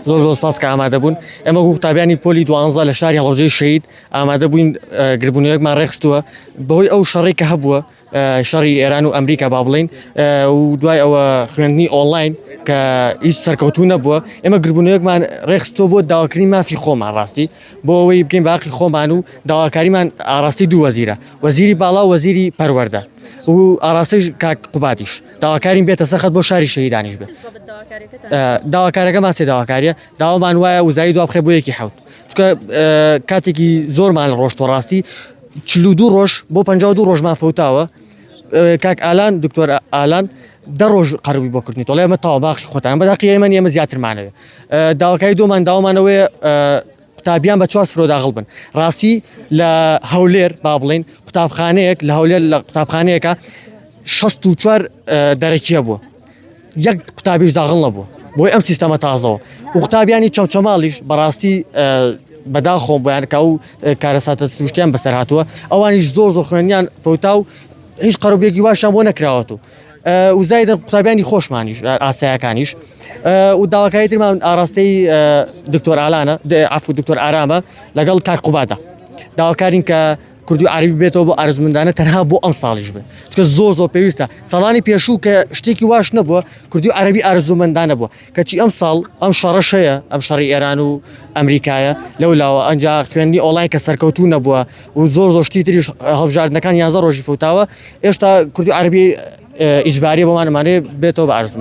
زۆر زۆر سپاس کە ئامادە بوون ئێمە وەکو قوتابیانی پۆلی دوانزە لە شاری هەڵەبجەی شەید ئامادە بووین اه، گربوونەوەیەکمان ڕێکخستووە بەهۆی ئەو شەڕی کە هەبووە اه، شەڕی ئێران و ئەمریکا با بڵێین اه، و دوای ئەوە خوێندنی ئۆنلاین کە هیچ سەرکەوتوو نەبووە ئێمە گربوونەوەیەکمان ڕێکخستووە بۆ داواکردنی مافی خۆمان ڕاستی بۆ ئەوەی بگەین بە هەقی خۆمان و داواکاریمان ئاڕاستەی دوو وەزیرە وەزیری باڵا و وەزیری پەروەردە و ئاڕاستەی کاک قوبادیش داواکارین بێتە سەرخەت بۆ شاری شەهیدانیش بێت داواکارەکەمان سێ داواکاریە داوامان وایە وزایی دو بخێ بۆ یەکی حوت چکە کاتێکی زۆرمان ڕۆشتۆ ڕاستی چلو دوو ڕۆژ بۆ پ دو ڕۆژمان فوتاوە کاک ئالان دکتۆر ئالان دە ڕۆژ قەربی بۆ کردنی تۆڵێ ئەمە تاوا باقی خۆتان بەداقی ئێمە ئێمە زیاترمانەوە داواکاری دومان داوامانەوەی قوتابیان بە چوار سفرۆ داخل بن ڕاستی لە هەولێر با بڵین قوتابخانەیەک لە هەولێر لە قوتابخانەیەەکە 64 دەرەکیە بووە یەک قوتابیش داغڵ نەبوو بۆی ئەم سیستەمە تازەوە و قوتابیانی چەمچەماڵیش بەڕاستی بەدا خۆم بەیانکە و کارەساتە سروشتیان بەسەر هاتووە ئەوانیش زۆر زۆر خوێنیان فوتا و هیچ قەربێکی واشان بۆ نەکراوەەوە وزایدن قوتابیانی خۆشمانیش ئاسایەکانیش و داواکاری ترمان ئاراستەی دکتۆر ئالانە عفو دکتۆر ئارامە لەگەڵ کاک قوبادا داواکارین کە کوردی عربی بێتەوە بۆ ئارزمندانە تەنها بۆ ئەم ساڵیش بێت چکە زۆ زۆ پێویستە ساڵانی پێشوو کە شتێکی واش نەبووە کوردی عربی ئارزومەندانە بووە کەچی ئەم ساڵ ئەم شەڕەش هەیە ئەم شەڕی ئێران و ئەمریکایە لەو لاوە ئەنجا خوێندی ئۆڵای کە سەرکەوتو نەبووە و زۆر زۆشتی تریش هەڵبژاردنەکان یانزە ڕۆژی فوتاوە ئێشتا کوردی عربی ئیجباری بۆمانمانێ بێتەوە بە عرزم